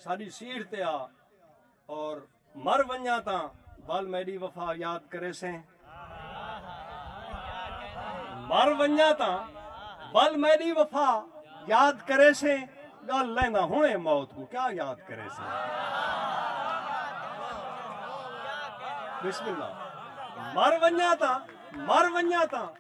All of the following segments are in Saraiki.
ساݙی سیڑھ تے آ اور مر ونڄاں تاں ول میݙی وفا یاد کریسیں مر ونڄاں تاں ول میݙی وفا یاد کریسیں ڳل لیندا ہݨیں موت کوں کیا یاد کریسیں بسم اللہ مر ونڄاں تاں مر ونڄاں تاں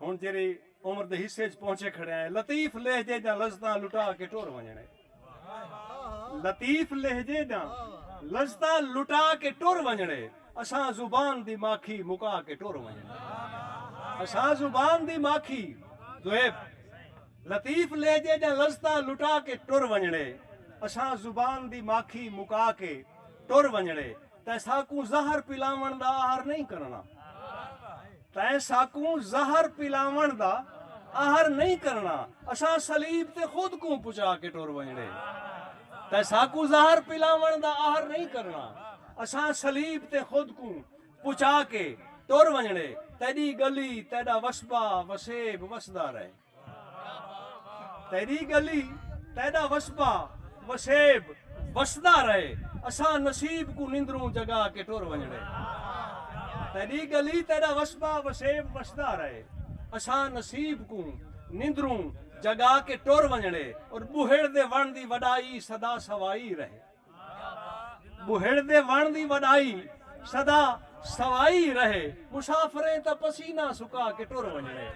ہن جیرھی عمر دے حصے اچ پہنچے کھڑے ہیں لطیف لہجے دیاں لذتاں لٹا کے ٹر ونجنڑ اے لطیف لہجے دیاں لذتاں لٹا کے ٹر ونجنڑ اے اساں زبان دی ماکھی مکا کے ٹر ونجنڑ اے اساں زبان دی ماکھی دویب لطیف لہجے دیاں لذتاں لٹا کے ٹر ونجنڑ اے اساں زبان دی ماکھی مکا کے ٹر ونجنڑ اے تیں ساکوں زہر پلاون دا آہر نہیں کرنا تیں ساکوں زہر پلاون دا آہر نہیں کرنا اساں صلیب تے خود کوں پچا کے ٹر ویندے تیں ساکوں زہر پلاون دا آہر نہیں کرنا اساں صلیب تے خود کوں پچا کے ٹر ویندے تیڈی گلی تیڈا وسبا وسیب وسدا رہے تیݙی ڳلی تیݙا وسبا وسیب وسدا رہے اساں نصیب کوں نندروں جگا کے ٹر ونڄݨے تیݙی ڳلی تیݙا وسبا وسیب وسدا رہے اساں نصیب کوں نندروں جگا کے ٹر ونڄݨے اور ٻوہڑ دے وݨ دی وݙائی سدا سوائی رہے۔ ٻہڑ دے وݨ دی وݙائی سدا سوائی رہے مسافریں تاں پسینہ سکا کے ٹر ونڄݨے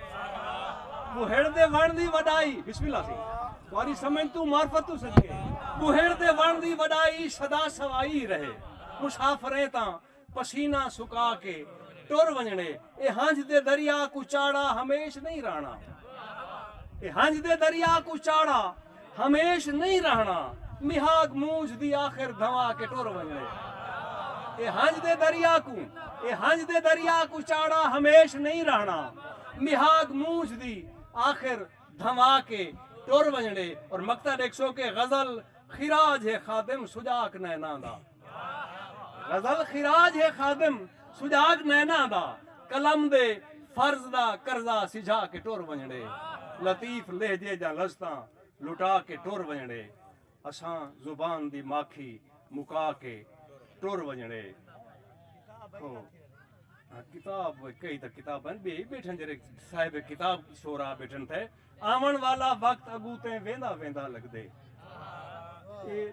ٻہڑ دے وݨ دی وݙائی بسم اللہ سی تہاݙی سمجھ توں معرفت توں صدقے ٻہڑ دے وݨ دی وݙائی سدا سوائی رہے مسافریں تاں پسینہ سکا کے ٹر ونجنے اے ہنج دے دریا کوں چاڑھا ہمیش نہیں رہنا اے ہنج دے دریا کوں چاڑھا ہمیش نہیں رہنا مہاگ مونجھ دی آخر دھوا کے ٹر ونجنے اے ہنج دے دریا کوں اے ہنج دے دریا کوں چاڑھا ہمیش نہیں رہنا مہاگ مونجھ دی آخر دھوا کے ٹر ونجنے اور مقطع ڈیکھ سو کے غزل خراج ہے خادم سجاک نینا دا غزل خراج ہے خادم سجاگ نیناں دا قلم دے فرض دا قرضہ سجھا کے ٹر ونجڑے لطیف لہجے جاں لذتاں لٹا کے ٹر ونجڑے اساں زبان دی ماکھی مکا کے ٹر ونجڑے ہو کتاب کئی تا کتاب ہیں بے بیٹھن جڑے صاحب کتاب شورا بیٹھن تھے آون والا وقت اگوں تیں ویندا ویندا لگدے۔ اے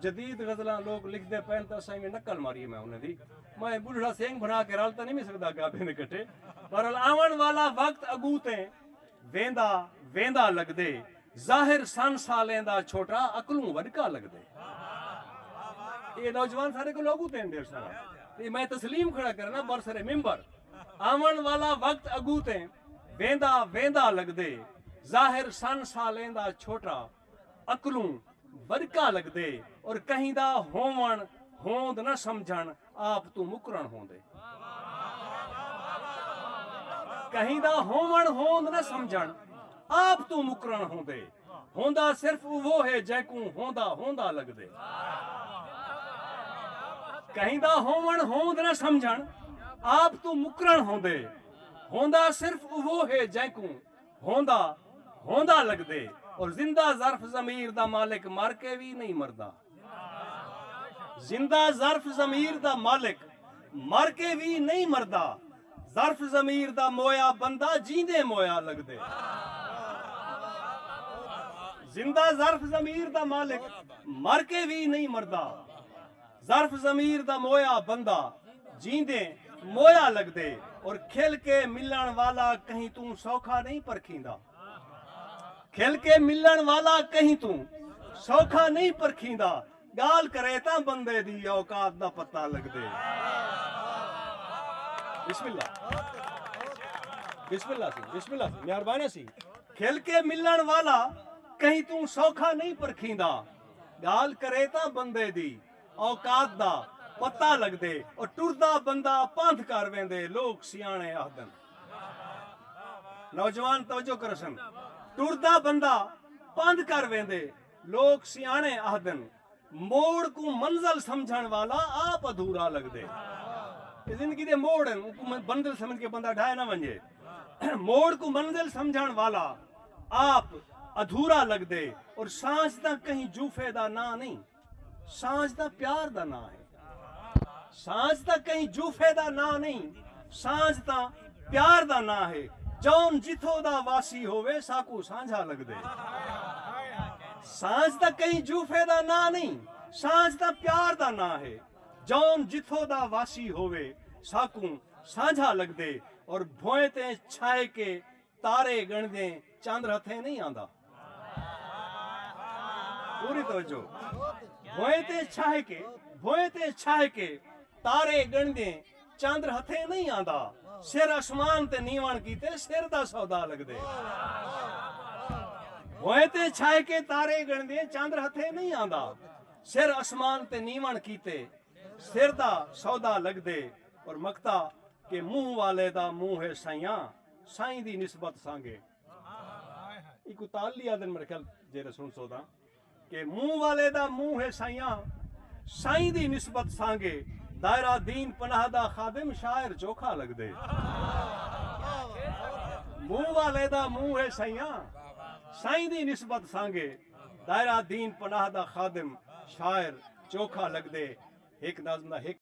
جدید غزلاں لوک لکھدے پئن تاں اساں ایویں نقل ماریے میں انہاں دی۔ میں اے بڈھڑا سینگ بھرا کے رل تاں نی وی سگدا گابھیں دے کٹھے۔ بہرحال آون والا وقت اگوں تیں ویندا ویندا لگدے۔ ظاہر سن سالیں دا چھوٹا عقلوں وڈکا لگدے۔ اے نوجوان سارے کولوں اگوں تیں ڈیڑھ سالاں۔ اے میں تسلیم کھڑا کرنا برسر ممبر۔ آون والا وقت اگوں تیں۔ ویندا ویندا لگدے ظاہر سن سالیں دا چھوٹا عقلوں ورکا لگدے اور کہیں دا ہووݨ ہوند نہ سمجھݨ آپ توں مکرݨ ہوندے کہیں دا ہووݨ ہوند نہ سمجھݨ آپ توں مکرݨ ہوندے ہوندا صرف اوہو ہے جینکوں ہوندا ہوندا لگدے کہیں دا ہووݨ ہوند نہ سمجھݨ آپ توں مکرݨ ہوندے ہوندا صرف اوہو ہے جینکوں ہوندا ہوندا لگدے اور زندہ ظرف ضمیر دا مالک مر کے وی نئیں مردا۔ زندہ ظرف ضمیر دا مالک مر کے وی نئیں مردا ظرف ضمیر دا مویا بندہ جیندے مویا لگدے۔ زندہ ظرف ضمیر دا مالک مر کے وی نئیں مردا۔ ظرف ضمیر دا مویا بندہ جیندے مویا لگدے اور کھل کے ملن والا کہیں توں سوکھا نہیں پرکھیندا کھل کے ملن والا کہیں توں سوکھا نہیں پرکھیندا گال کرے تاں بندے دی اوقات دا پتہ لگدے بسم اللہ بسم اللہ سی بسم اللہ سی مہربانی سی کھل کے ملن والا کہیں توں سوکھا نہیں پرکھیندا ڳالھ کرے تاں بندے دی اوقات دا پتہ لڳدے او ٹردا بندہ پندھ کر ویندے لوک سیاݨے آہدن نوجوان توجہ کرسن ٹردا بندہ پندھ کر ویندے لوک سیاݨے آہدن موڑ کوں منزل سمجھݨ والا آپ ادھورا لڳدے اے زندگی دے موڑ ہن اونکوں منزل سمجھ کے بندہ ڈھائے نہ ونڄے موڑ کوں منزل سمجھݨ والا آپ ادھورا لگدے اور سانجھ تاں کہیں جوفے دا ناں نئیں سانجھ تاں پیار دا ناں ہے سانجھ تاں کہیں جوفے دا ناں نئیں سانجھ تاں پیار دا ناں ہے جون جتھو دا واسی ہووے ساکو سانجھا لگدے سانجھ تاں کہیں جوفے دا ناں نئیں سانجھ تاں پیار دا ناں ہے جون جتھو دا واسی ہووے ساکو سانجھا لگدے اور بھوئیں تے چھائے کے تارے گنڑدیں چندر ہتھیں نئیں آندا۔ پوری توجہ بھوئیں تے چھاہ کے بھوئیں تے چھاہ کے تارے گنڑدیں چندر ہتھیں نئیں آندا سر اسمان تے نیون کیتے سر دا سودا لگدے بھوئیں تے چھاہ کے تارے گنڑدیں چندر ہتھیں نئیں آندا سر اسمان تے نیون کیتے سر دا سودا لگدے اور مکتا کہ منہ والے دا منہ ہے سیاں سائیں دی نسبت سانگے ایکوں تالی آدن میرے خیال جیرے سن سو دا کہ منہ والے دا منہ ہے سائیاں سائیں دی نسبت سانگے دائرہ دین پناہ دا خادم شاعر چوکھا لگ دے منہ والے دا منہ ہے سائیاں سائیں دی نسبت سانگے دائرہ دین پناہ دا خادم شاعر چوکھا لگ دے ایک نظم دا ایک